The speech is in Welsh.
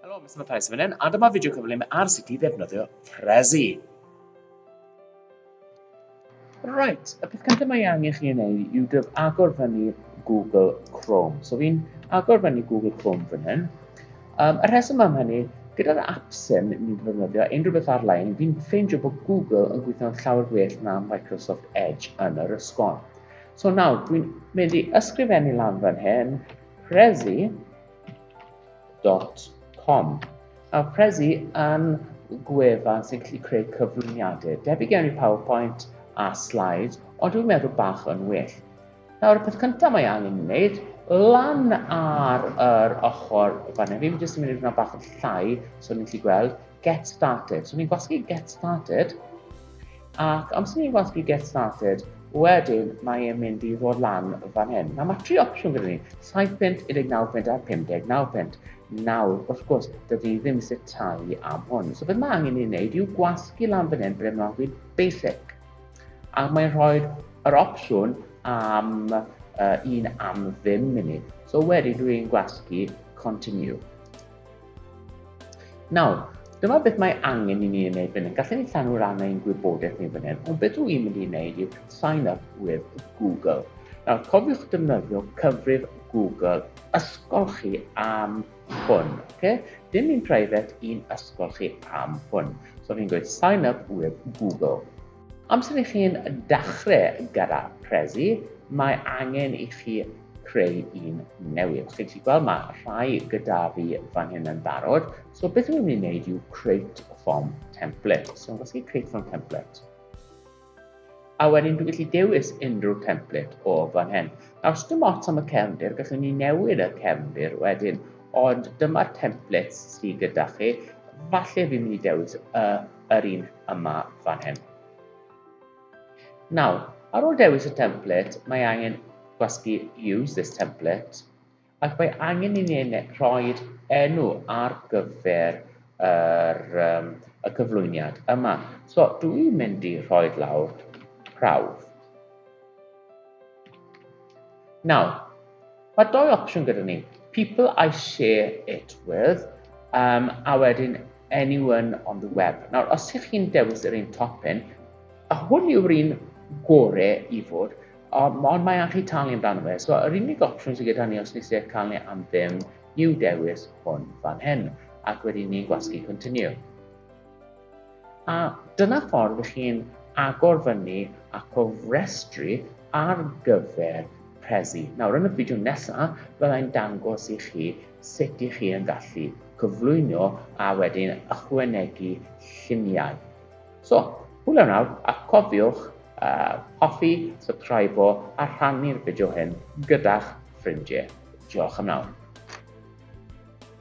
Helo, Mr Prezi fan hyn, a dyma fideo cyflym ar sut i ddefnyddio Prezi. Right, y peth cyntaf mae angen chi yn ei yw dyf agor fyny Google Chrome. So fi'n agor fyny Google Chrome fan hyn. Um, y rheswm am hynny, gyda'r apps hyn ni'n defnyddio unrhyw beth ar-lein, fi'n ffeindio bod Google yn gweithio'n llawer gwell na Microsoft Edge yn yr ysgol. So nawr, dwi'n mynd i ysgrifennu lan fan hyn, Prezi, www.prezi.com. Nawr, Prezi yn gwefan sy'n gallu creu cyflwyniadau, debyg iawn i PowerPoint a slides, ond dwi'n meddwl bach yn well. Nawr, y peth cyntaf mae angen ei wneud, lan ar yr ochr fan hyn, fi'n jyst yn mynd i fod bach yn llai, so ni'n gallu gweld, get started. So ni'n gwasgu get started, Ac amser ni'n gwasgu get started, wedyn mae e'n mynd i ddod lan fan hyn. Nawr mae tri opsiwn gyda ni, 7 punt, 19 punt a 59 punt. Nawr, wrth gwrs, dydw i ddim eisiau talu am hwn. So beth mae angen i'n wneud yw gwasgu lan fan hyn, beth mae'n gwneud basic. A mae'n rhoi yr opsiwn am uh, un am ddim munud. So wedyn dwi'n gwasgu continue. Nawr, dyma beth mae angen i ni yn ei fyny. Gallwn ni llanw ran ein gwybodaeth ni fan hyn, ond beth rwy'n mynd i wneud yw sign up with Google. Nawr, cofiwch defnyddio cyfrif Google ysgol chi am hwn. Okay? Dim un private, un ysgol chi am hwn. So fi'n gweud sign up with Google. Amser i chi'n dechrau gyda Prezi, mae angen i chi creu un newydd. Chi'n gallu gweld mae rhai gyda fi fan hyn yn barod. So beth yw'n mynd i wneud yw create form template. So yn gallu create form template. A wedyn dwi'n gallu dewis unrhyw template o fan hyn. Nawr, os dim ots am y cefndir, gallwn ni newid y cefndir wedyn, ond dyma'r templates sydd gyda chi. Falle fi'n mynd i dewis y yr un yma fan hyn. Nawr, ar ôl dewis y template, mae angen gwasgu use this template, ac mae angen i ni rhoi enw ar gyfer yr, um, y cyflwyniad yma. So, dwi'n mynd i rhoi lawr prawf. Nawr, Mae dou opsiwn gyda ni, people I share it with, um, a wedyn anyone on the web. Nawr, os ych chi'n dewis yr un top hyn, a hwn yw'r un gore i fod, ond mae angen chi talu amdano fe. So, yr unig opsiwn sydd gyda ni os nes i'r cael ni am ddim yw dewis hwn fan hyn, ac wedyn ni'n gwasgu continue. A dyna ffordd i chi'n agor fyny a cofrestru ar gyfer Prezi. Nawr yn y fideo nesaf, byddai'n dangos i chi sut i chi yn gallu cyflwyno a wedyn ychwanegu lluniau. So, hwyl nawr a cofiwch uh, hoffi, subscribe a rhannu'r fideo hyn gyda'ch ffrindiau. Diolch am nawr.